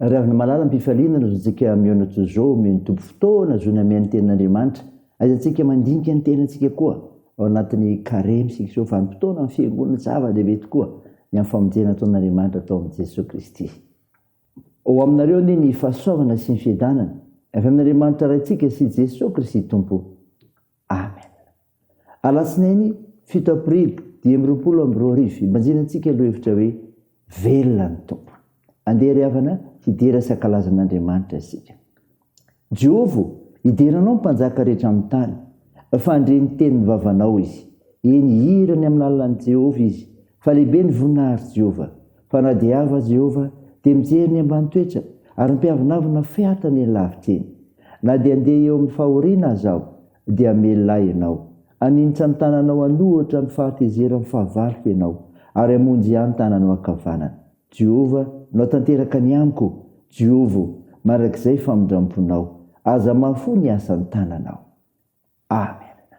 Ry havana malala mpifaliana ny zontsika mihaona toy izao omeny Tompo fotoana hazoana mihaino ny tenin'Andriamanitra. Aiza tsika mandinika ny tenantsika koa ao anatin'ny Karemy isika izao vanim-potoana ny fiangonana zava-dehibe tokoa ny amin'ny famonjena ataon'Andriamanitra atao amin'i Jesoa Kristy. Ao aminareo anie ny fahasoavana sy ny fiadanana avy amin'Andriamanitra Raintsika sy Jesoa Kristy Tompo. Amen. Alatsinainy fito aprily dimy amby roapolo amby roa arivo, ibanjina antsika lohevitra hoe Velona ny Tompo. Andeha ry havana hidera sy hankalaza an'Andriamanitra isika. Jehova hidera anao ny mpanjaka rehetra amin'ny tany, fa handre ny tenin'ny vavanao Izy. Eny, hihira ny amin'ny lalan'i Jehovah izy, fa lehibe ny voninahitr'i Jehovah. Fa na dia avy aza Jehovah, dia mijery ny ambany toetra, ary mpiavonavona fehatany eny lavitra eny. Na dia andeha eo amin'ny fahoriana aza aho, dia melona ahy ianao. Haninitra ny tananao an'ohatra amin'ny fahatezeran'ny fahavaloko ianao, ary hamonjy ahy ny tananao ankavanana. Jehovah, nao tanteraka ny amiko, Jiovo, mandrakizay famindram-ponao. Aza mahafoy ny asan'ny tananao. Amena.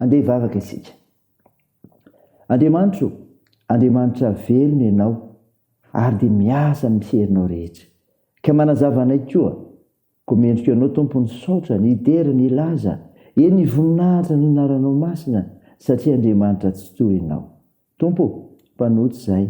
Andeha hivavaka isika. Andriamanitro, Andriamanitra velona Ianao ary dia miasa amin'ny herinao rehetra. Ka manazava anay koa. Koa mendrika Anao, Tompo, ny saotra, ny hidera, ny hilaza, eny, ny voninahitra ny anaranao masina, satria Andriamanitra tsy toa Ianao. Tompo ô, mpanota izahay,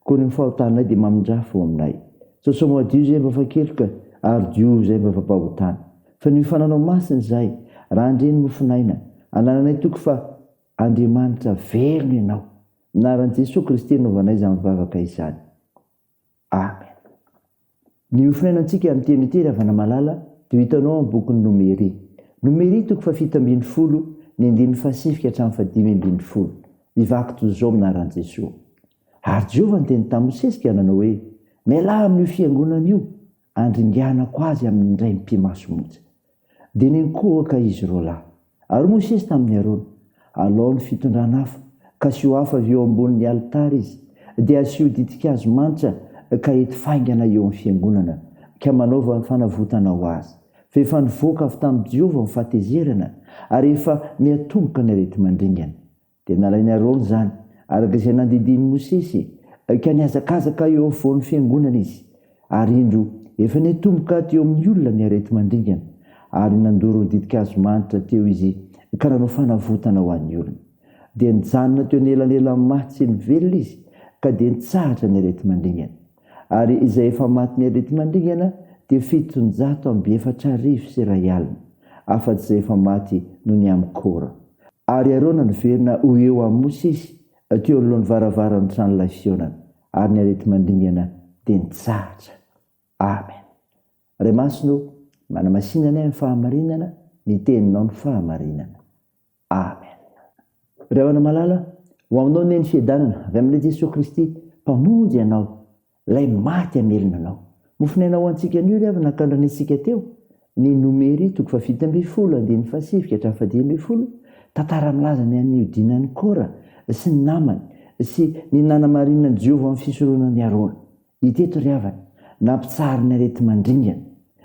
koa ny fahotanay dia mamindrafo ao aminay. Sosao madio izay mba fakeloka, ary diovy izay mba fampahotana. Fa ny fananao masina izahay, raha handre ny mofon'aina, anananay toky fa Andriamanitra velona Ianao. Amin'ny anaran'i Jesoa Kristy anaovanay izany vavaka izany. Amen. Ny hofiainantsika amin'ny teny ity Ravana Malala dia ho hitanao amin'ny bokin'ny Nomery. Nomery toko fahafito ambin'ny folo, ny andininy fahasivy ka hatramin'ny fahadimy ambin'ny folo. Mivaky toy izao amin'ny anaran'i Jesoa. Ary Jehovah niteny tamin'i Mosesy ka nanao hoe, Mialà amin'io fiangonana io, andringanako azy amin'ny indray mpimasomonja. Dia niankohoka izy roalahy. Ary Mosesy tamin'i Arona, Alao ny fitondran'afo, ka asio afo avy eo ambonin'ny alitara izy, dia asio ditin-kazo manitra ka ety faingana eo amin'ny fiangonana, ka manaova fanavotana ho azy, fa efa nivoaka avy tamin'i Jehovah ny fahatezerana, ary efa miatomboka ny areti-mandringana. Dia nalain'i Arona izany, araka izay nandidian'i Mosesy, ka nihazakazaka eo afovoan'ny fiangonana izy. Ary indro, efa nitomboka teo amin'ny olona ny areti-mandringana, ary nandoro ny ditin-kazo manitra teo izy ka nanao fanavotana ho an'ny olona. Dia nijanona teo anelanelan'ny maty sy ny velona izy, ka dia nitsahatra ny areti-mandringana. Ary izay efa matin'ny areti-mandringana dia fitonjato amby efatra arivo sy iray alina, afa-tsy izay efa maty noho ny amin'i Kora. Ary ireo naniverina ho eo amin'i Mosesy teo anoloan'ny varavaran'ny tranolay fihaonana, ary ny areti-mandringana dia nitsahatra. Amen. Ray Masina ô, manamasina anay amin'ny fahamarinana, ny Teninao no fahamarinana. Amen. Ry havana malala, ho aminao Neny fiadanana avy amin'ilay Jesoa Kristy Mpamonjy anao. Ilay maty hamelona anao. Mofonaina ho antsika anio ry havana ka laniantsika teo ny Nomery toko fahafito ambin'ny folo andininy fahasivy ka hatramin'ny fahadimy ambin'ny folo, tantara milaza ny an'ny nihodinan'i Kora sy ny namany sy ny nanamarinana an'i Jehovah amin'ny fisoronan'i Arona. Hita eto ry havana, nampitsahary ny areti-mandringana.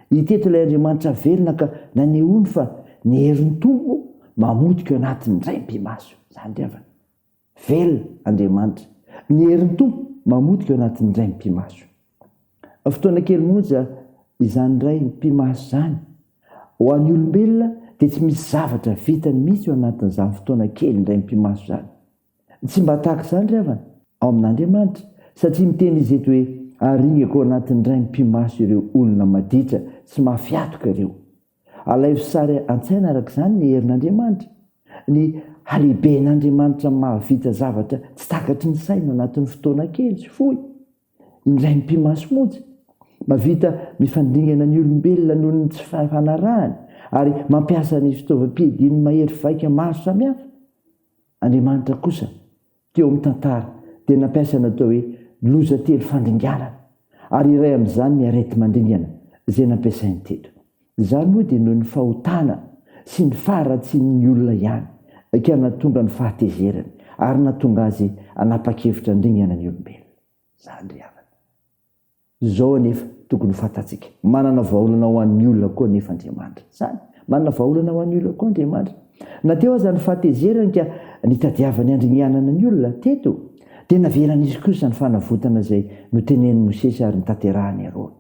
Hita eto ilay Andriamanitra velona ka nanehoany fa ny herin'ny Tompo mamotika eo anatiny indray ny mpimaso. Izany ry havana. Velona Andriamanitra! Ny herin'ny Tompo mamotika ao anatin'ny iray mipi-maso. Fotoana kely monja izany iray mipi-maso izany. Ho an'ny olombelona dia tsy misy zavatra vitany mihitsy ao anatin'izany fotoana kely iray mipi-maso izany. Tsy mba tahaka izany ry havana ao amin'Andriamanitra, satria miteny Izy eto hoe, Aringako ao anatin'ny iray mipi-maso ireo olona maditra sy mafy atoka ireo. Alaivo sary an-tsaina araka izany ny herin'Andriamanitra, ny halehiben'Andriamanitra mahavita zavatra tsy takatry ny saina anatin'ny fotoana kely sy fohy, indray mipi-maso monja, mahavita mifandringana ny olombelona noho ny tsy fifanarahany ary mampiasa ny fitaovam-piadiany mahery vaika maro samihafa. Andriamanitra kosa Teo amin'ny tantara, dia nampiasa ny atao hoe loza telo fandringanana, ary iray amin'izany ny areti-mandringana izay nampiasainy teto. Izany moa dia noho ny fahotana sy ny faharatsian'ny olona ihany ka nahatonga ny fahatezerany ary nahatonga azy hanapa-kevitra handringana ny olombelona. Izany ry havana. Izao anefa tokony ho fantatsika, manana vahaolana ho an'ny olona koa anefa Andriamanitra. Izany, manana vahaolana ho an'ny olona koa Andriamanitra. Na teo aza ny fahatezerany ka nitadiavany handringanana ny olona, teto dia naveran'izy kosa ny fanavotana izay notenenin'i Mosesy ary notanterahin'i Arona.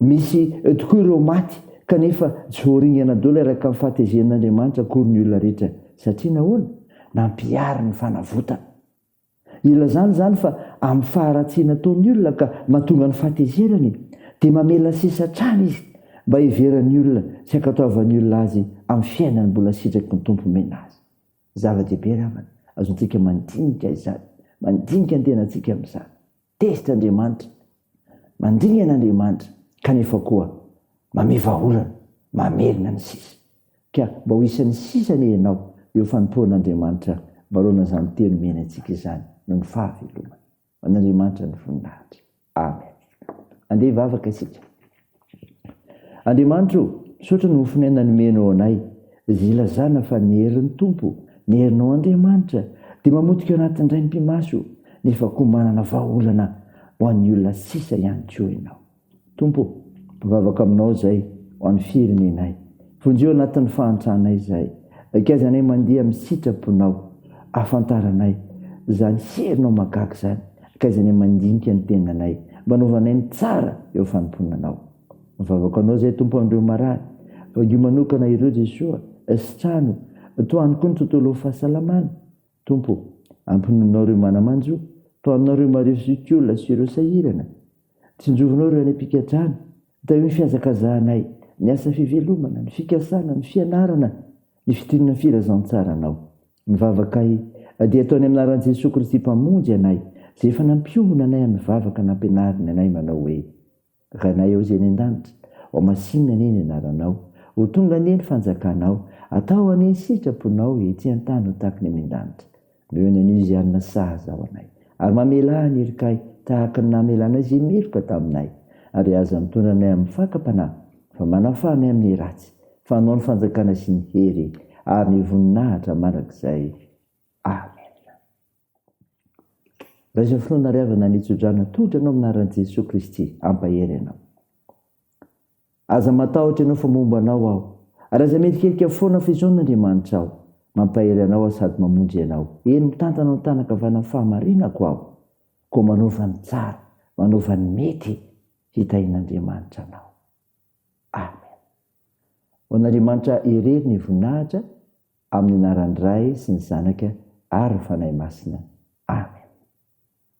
Misy eo tokoa ireo maty kanefa tsy voaringana daholo araka ny fahatezen'Andriamanitra akory ny olona rehetra. Satria nahoana? Nampihariny ny fanavotana. Ilazany izany fa amin'ny faharatsiana ataon'ny olona ka mahatonga ny fahatezerany dia mamela sisa hatrany izy mba hiheveran'ny olona sy hankatoavan'ny olona azy amin'ny fiainany mbola sitraky ny Tompo omena azy. Zava-dehibe ry havana, azontsika mandinika izany, mandinika ny tenantsika amin'izany. Tezitra Andriamanitra, mandringana Andriamanitra, kanefa koa mamia vahaolana, mamelona ny sisa. Ka mba ho isan'ny sisa anie ianao, eo fanompoan'Andriamanitra manoloana izany teny omeny antsika izany, noho ny fahavelomany. Ho an'Andriamanitra ny voninahitra. Amen. Andeha hivavaka isika. Andriamanitra o, misaotra ny mofon'aina nomenao anay, izay ilazana fa ny herin'ny Tompo, ny herinao Andriamanitra, dia mamotika ao anatin'ny raim-pimaso, nefa koa manana vahaolana ho an'ny olona sisa ihany koa ianao. Tompo o, mivavaka aminao izay ho an'ny firenenay. Vonjeo anatin'ny fahantranay izay. Akaizanay mandihy amin'ny sitraponao. Ahafantaranay izany herinao mahagaga izany. Akaizanay mandinika ny tenanay. Mba anaovanay ny tsara eo fanompoana anao. Mivavaka anao izay Tompo amin'ireo marary. Vangio manokana ireo Jesoa. Sitrano. Tohano koa ny tontolo fahasalamana. Tompo ô, ampinoninao ireo manamanjo, tohanonao ireo marivo sy tiola sy ireo sahirana. Tsinjovinao ireo any am-pikadrana. Tahio ny fihazakazahanay, ny asa fivelomana, ny fikasana, ny fianarana, ny fidinana ny Filazantsaranao. Ny vavakay dia atao any amin'ny anaran'i Jesoa Kristy Mpamonjy anay, izay efa nampiombona anay amin'ny vavaka nampianariny anay manao hoe. Ranay ao izay any an-danitra, ho masinina anie ny anaranao, ho tonga anie ny fanjakanao, atao anie ny sitraponao ety an-tany ho tahaka ny any an-danitra. Noho ny anio izay hanana saha zaho anay, ary mamelà ny herikay tahaka ny namelanay izay meloka taminay, ary aza mitondra anay amin'ny fakam-panahy, fa manafaha anay amin'ny ratsy, fa anao ny fanjakana sy ny hery ary ny voninahitra mandrakizay. Amena. Raiso finoana ary avana ny tso-drano atolotra anao amin'ny anaran'i Jesoa Kristy hampahery anao. Aza matahotra ianao fa momba anao aho, ary aza mierikerika foana fa izao n'Andriamanitra aho, mampahery anao aho sady mamonjy anao. Eny, mitantana ao an-tanan-kavanan'ny fahamarinako aho, koa manaova ny tsara, manaova ny mety, hitahian'Andriamanitra anao. Amen. Ho an'Andriamanitra irery ny voninahitra amin'ny anaran'ny Ray sy ny Zanaka ary ny Fanahy Masina. Amen.